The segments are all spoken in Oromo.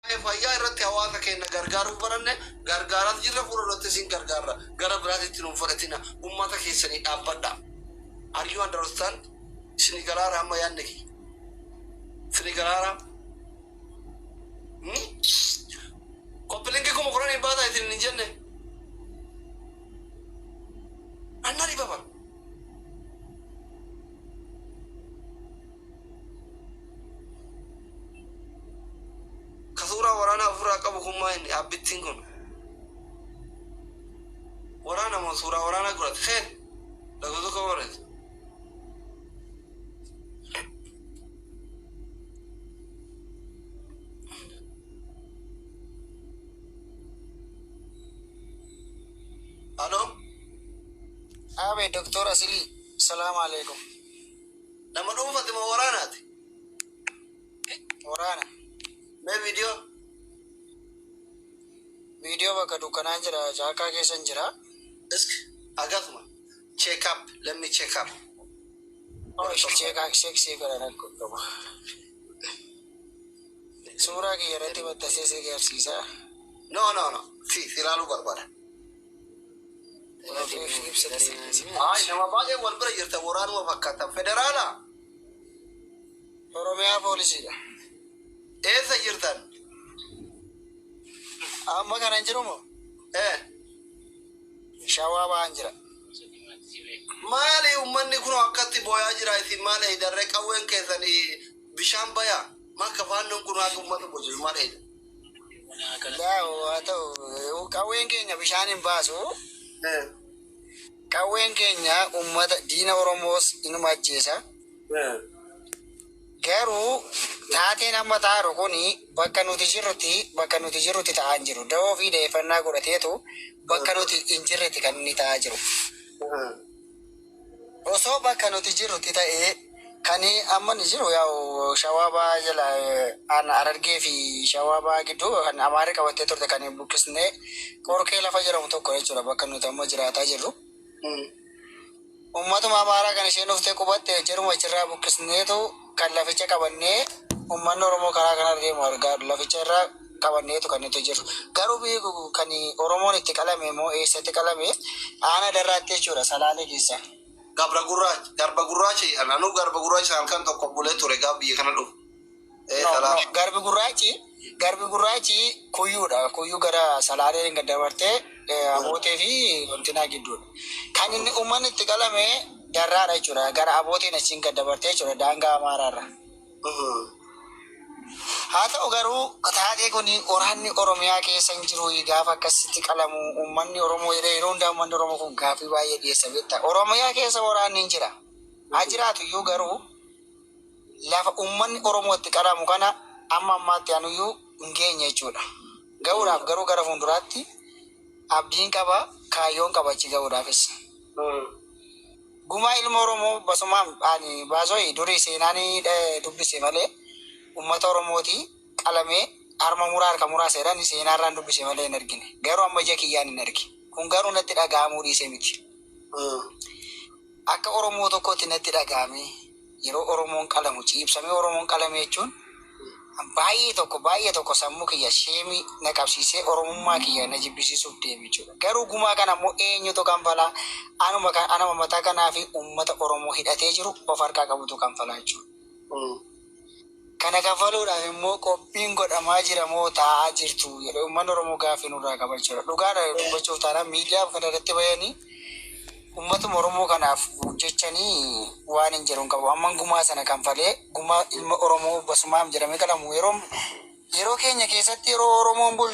Waa'ee fayyaa irratti hawaasa keenna gargaaruu baranne, gargaaraas jirra, fuula durattis hin gargaarra. Gara biraatti itti nu hin fudhatina. Ummata keessanii dhaabbadha. Are you understand? Isinii galaara amma yaanni kiyya? Isinii galaara? Ni? Koppilinki kuma kudhan hin baasa isin hin jenne? Anna dhibaba. Ka suuraa waraanaa ofirraa qabu kun maa inni abbittiin kun? Waraana moo suuraa waraanaa godhate? Keen lakkoo tokko barreessa. Aloo? Aabe Doktor Asilii, salaamu alaikum. Nama dhuunfati moo waraanaati? Waraana. Mee viidiyoo? Viidiyoo bakka dukkanaan jira caakkaa keessan jira. Isk agatuma. Check up. Let me check up. Oshi cheekaa seksii godhan akka qabu. Suuraa kiyya irratti maxxansee si agarsiisa. No no no. Si si ilaaluu barbaada. Ayi nama baay'ee wal bira jirta waraanuma fakkaatan federaala oromiyaa poolisiidha eessa jirtan amma kana hin jirumo ee shawaa ba'aan jira maali ummanni kun akkatti booyaa jira isin maal eeydarree qawween keessan bishaan bayaa makka faannoon kun akka ummata bojiru maal eeyda Qawween keenya bishaan hin baasu. Qawween keenya uummata diina Oromoos inuma ajjeesa. Garuu taateen amma ta'aaru kun bakka nuti jirrutti bakka nuti jirrutti ta'aa hin jiru. Da'oo fi da'eeffannaa godhateetu bakka nuti hin jirretti kan inni ta'aa jiru. Osoo bakka nuti jirrutti ta'ee Kani amma inni jiru yaa'u shawaa bahaa jala aanaa harargee fi shawaa bahaa gidduu kan amaarri qabattee turte kan buqqisnee qorkee lafa jedhamu tokko jechuudha bakka nuti amma jiraataa jirru ummatuma amaaraa kan isheen dhuftee qubatte jaruma achirraa buqqisneetu Kan laficha qabannee ummanni Oromoo karaa kanarra deemu argaa laficha irra qabanneetu kan nuti jirru. Garuu biyyi kun kan Oromoon itti qalame immoo eessatti qalame? Aanaa Darraatti jechuudha Salaalee keessa. Gabra Gurraacha, Garba Gurraacha jedhan. Anuu Garba Gurraacha sana halkan tokko bulee ture gaafa biyya kana dhufu. Ee, No, no, Salaalee. Garbi Gurraachi. Garbi Gurraachi Kuyyuudha. Kuyyuu gara Salaaleen gad dabartee Abootee fi Ontinaa gidduudha. Kan inni uummanni itti qalame Darraadha jechuudha. Gara Abooteen achiin gad dabartee jechuudha daangaa Amaaraarra. Haa ta'u garuu taatee kun waraanni Oromiyaa keessa hin jiru gaafa akkasitti qalamu uummanni Oromoo yeroo yeroo hundaa uummanni Oromoo kun gaaffii baay'ee dhiyeessa beektaa. Oromiyaa keessa waraanni hin jira. Haa jiraatu iyyuu garuu lafa ummanni Oromoo itti qaramu kana amma ammaatti anuyyuu hin geenye jechuudha. Gahuudhaaf garuu gara fuunduraatti abdiin qaba, kaayyoon qaba achi gahuudhaafis. Gumaa ilma Oromoo basumaam ani baasoi durii seenaani dubbise malee ummata Oromooti qalamee harma muraa harka muraa seedhani seenaarraan dubbise malee hin argine. Garuu amma ija kiyyaan hin arge. Kun garuu natti dhaga'amuu dhiisee miti. Akka Oromoo tokkootti natti dhaga'ame yeroo Oromoon qalamu ciibsamee Oromoon qalame jechuun baay'ee tokko baay'ee tokko sammuu kiyya sheemii na qabsiisee Oromummaa kiyya na jibbisiisuuf deeme jechuudha. Garuu gumaa kana ammoo eenyutu kanfala? Anuma kan anama mataa kanaa fi uummata Oromoo hidhatee jiru of harkaa qabutu kanfala jechuudha. Kana kaffaluudhaaf immoo qophiin godhamaa jira moo taa'aa jirtu jedhee uummanni Oromoo gaaffii nurraa qaba jechuudha. Dhugaadha dubbachuuf taanaan miidiyaa kana irratti bahanii uummatuma Oromoo kanaaf hojjechanii waan hin jedhu hin qabu. Amman gumaa sana kanfalee gumaa ilma Oromoo Basumaam jedhamee qalamu yeroo yeroo keenya keessatti yeroo Oromoon bul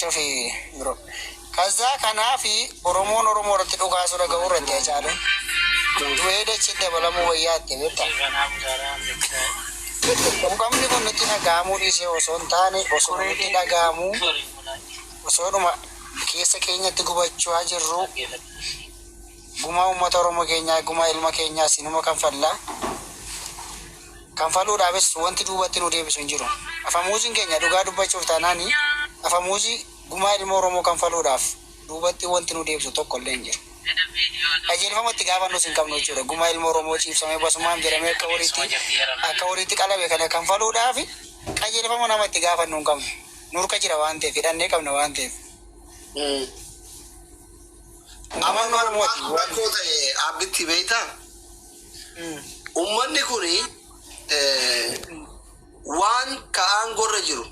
Cufii bro. Kazzaa kanaafi Oromoon Oromoo irratti dhukaasuu dhaga'uu irratti Hacaaluun du'ee dachiitti dabalamuu wayyaa itti beektaa? Quuqamni kun nutti dhaga'amuu dhiisee osoo hin taane osuma nutti dhaga'amuu osoodhuma keessa keenyatti gubachaa jirru gumaa uummata Oromoo keenyaa gumaa ilma keenyaa sinuma kanfallaa. kanfaluudhaafis wanti duubatti nu deebisu hin jiru. Afamuuziin keenya dhugaa dubbachuuf taanaan afamuuzii gumaa ilmoo Oromoo kanfaluudhaaf duubatti wanti nu deebisu tokko illee hin jiru. Qajeelfama itti gaafannus hin qabnu jechuudha. Gumaa ilmoo Oromoo ciibsamee basumaam jedhamee akka horiitti akka horiitti qalame kana kanfaluudhaaf qajeelfama nama itti gaafannu hin qabnu. Nu harka jira waan ta'eef, hidhannee qabna waan ta'eef. Amannu harmooti. Waan koo ta'e aabbitti beektaa? Ummanni kun waan ka aangorra jiru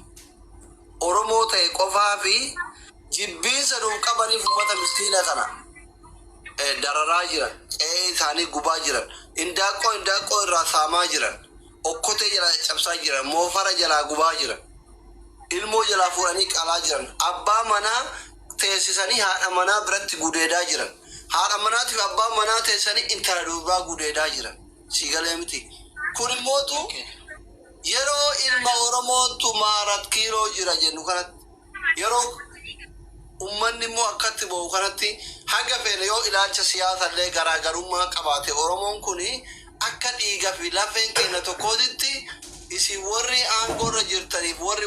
Oromoo ta'e qofaa fi jibbiinsa nuuf qabaniif ummata miskiina kana dararaa jiran, qe'ee isaanii gubaa jiran, indaaqqoo indaaqqoo irraa saamaa jiran, okkotee jalaa caccabsaa jiran, moofara jalaa gubaa jiran, ilmoo jalaa fuudhanii qalaa jiran, abbaa manaa teessisanii haadha manaa biratti gudeedaa jiran. Haadha manaatiif abbaan manaa teessanii intala durbaa gudeedaa jiran. Sii galee miti. Kun immootu yeroo ilma Oromoo tumaa arat kiiloo jira jennu kanatti yeroo ummanni immoo akkatti ba'u kanatti haga feene yoo ilaalcha siyaasa illee garaagarummaa qabaate Oromoon kun akka dhiiga fi lafeen keenya tokkootitti isin warri aangoo irra jirtaniif warri